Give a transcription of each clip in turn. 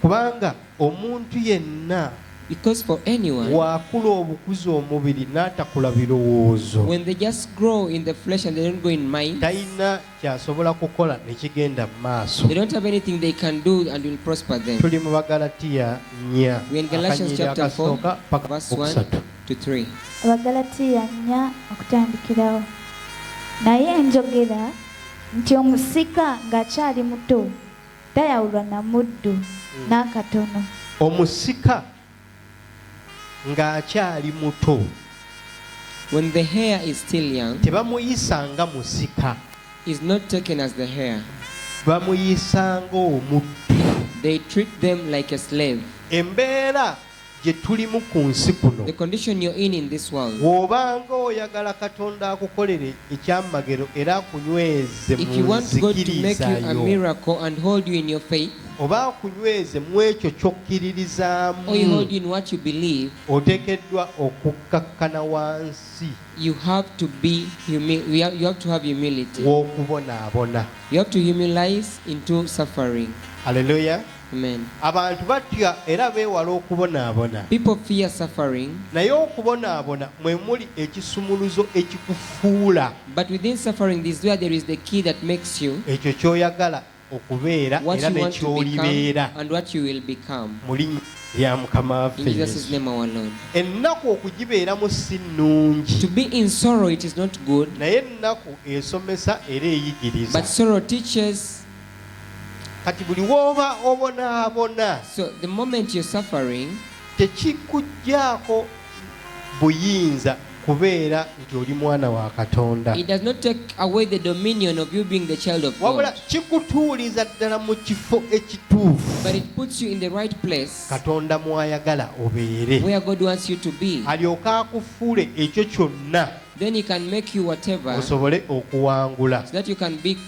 Kubanga omuntu yenna Because for anyone, wakula obukuza omubiri n'atakula birowoozo when they just grow in the flesh and they don't grow in mind, talina ky'asobola kukola ne kigenda mu maaso they don't have anything they can do and will prosper them. tuli mu bagalatiya nnya We're in Galatians akanyiriro chapter 4, akasooka paka verse 1 okusatu to 3. abagalatiya nnya okutandikirawo naye njogera nti omusika ng'akyali muto tayawulwa na muddu n'akatono. Omusika ng'akyali muto. When the hare is still young, tebamuyisa nga musika. Is not taken as the hare. Bamuyisa ng'omuddu. They treat them like a slave. Embeera gye tulimu ku nsi kuno. Bw'obanga oyagala Katonda akukolere ekyamagero era akunyweze mu nzikiriza yo oba akunyweze mu ekyo ky'okkiririzaamu oteekeddwa okukkakkana wansi w'okubonaabona. Hallelujah. Amen. Abantu batya era beewala okubonaabona. People fear suffering. Naye okubonaabona mwe muli ekisumuluzo ekikufuula. But within suffering is where there is the key that makes you. Ekyo ky'oyagala okubeera era ne ky'olibeera. And what you will become. Muli ya mukama waffe ennaku okugibeeramu si nnungi naye ennaku esomesa era eyigiriza kati buli wooba obonaabona so the moment you're suffering tekikuggyako buyinza kubeera nti oli mwana wa katonda wabula kikutuuliza ddala mu kifo ekituufu katonda mwayagala obeere alyoke akufuule ekyo kyonna osobole okuwangula so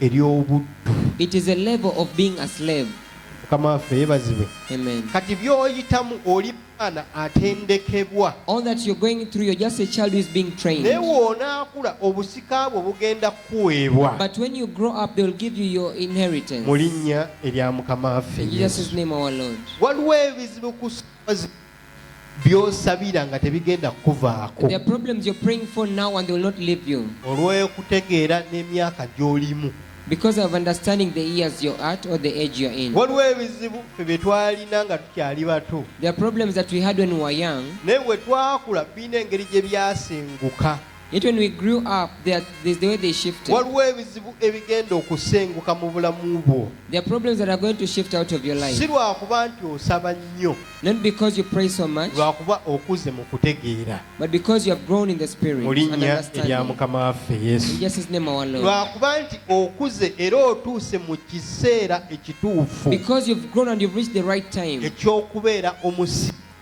ery'obuddu. It is a level of being a slave. mukama waffe yebazibwe Amen. kati byoyitamu oli mwana atendekebwa All that you're going through, you're just a child who is being trained. naye woonaakula obusika bwo bugenda kukuweebwa But when you grow up, they'll give you your inheritance. mu linnya erya mukama waffe In Jesus' Yesu. name, our Lord. waliwo ebizibu ku byosabira nga tebigenda kukuvaako olw'okutegeera n'emyaka gy'olimu because of understanding the years you're at or the age you're in. waliwo ebizibu ffe bye twalina nga tukyali bato There are problems that we had when we were young, naye bwe twakula birina engeri gye byasenguka Yet when we grew up, there, are- there's the way they shifted. waliwo ebizibu ebigenda okusenguka mu bulamu bwo There are problems that are going to shift out of your life. si lwakuba nti osaba nnyo Not because you pray so much, lwakuba okuze mu kutegeera but because you have grown in the spirit mu and linnya erya understanding. mukama waffe In yesu Jesus' name, our Lord. lwakuba nti okuze era otuuse mu kiseera ekituufu Because you've grown and you've reached the right time. eky'okubeera omusi